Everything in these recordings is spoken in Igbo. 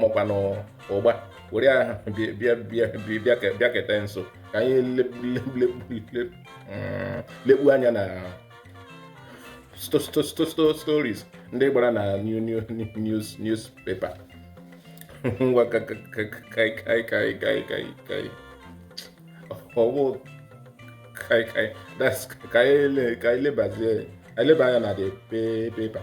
mọkwanụ ụgba were aha bịakete nso ka anyị lekpu anya na stories ndị gbara na news newspaper ngwa kaikaikai ọ wụ kaikai that's ka anyị lebazie eleba anya na the paper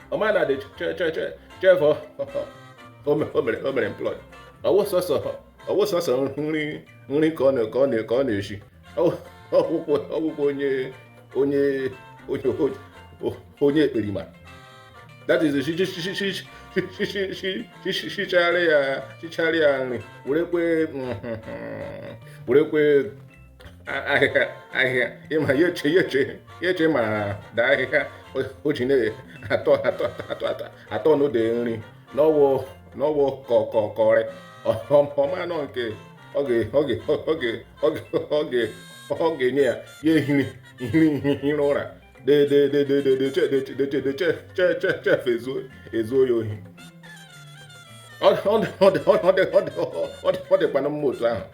ọ ma na the chef o mere o mere employ ọ wụ sọsọ ọ wụ sọsọ nri nri ka ọ na ka ọ na ka ọ na-eshi ọ wụkwa ọ wụkwa onye onye onye onye ekperima that is shichara ya shichara ya nri werekwa werekwa ahịhịa ahịhịa ịma ya eche ya eche ya eche ma daa ahịhịa o ji na-atọ atọ atọ atọ atọ n'ụdị nri na ọ wụ na ọ wụ kọkọkọrị ọ manụ nke ọ ga-enye ya ya ehiri ihiri ihiri ụra chef ezuo ya ohi ọ dịkwanụ mma otu ahụ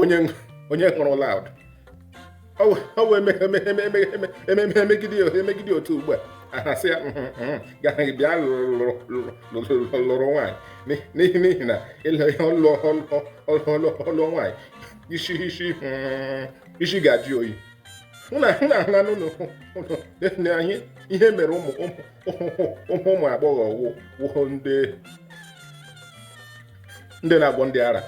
onye onye hụrụ loud ọ wee megide otu ugbu a ha asị ya gaghị bịa lụrụ nwaanyị n'ihi n'ihi na ịlụ ihe ọ lụọ nwaanyị isi isi isi ga-ajụ oyi na ahụna n'ụlọ na anyị ihe mere ụmụ ụmụ agbọghọ wụhụ ndị ndị na-agwọ ndị ara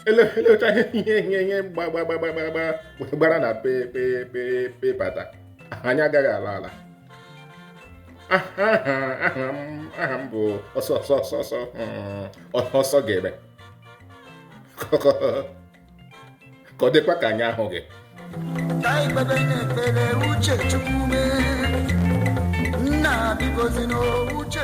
e lechaa ihe ihe ihe ihe gbara na paper taa anyị agaghị ala ala aha m bụ ọsọ ọsọ ọsọ ọsọ ọsọ ga-eme ka ọ dịkwa ka anyị ahụghị nna bikozi n'uche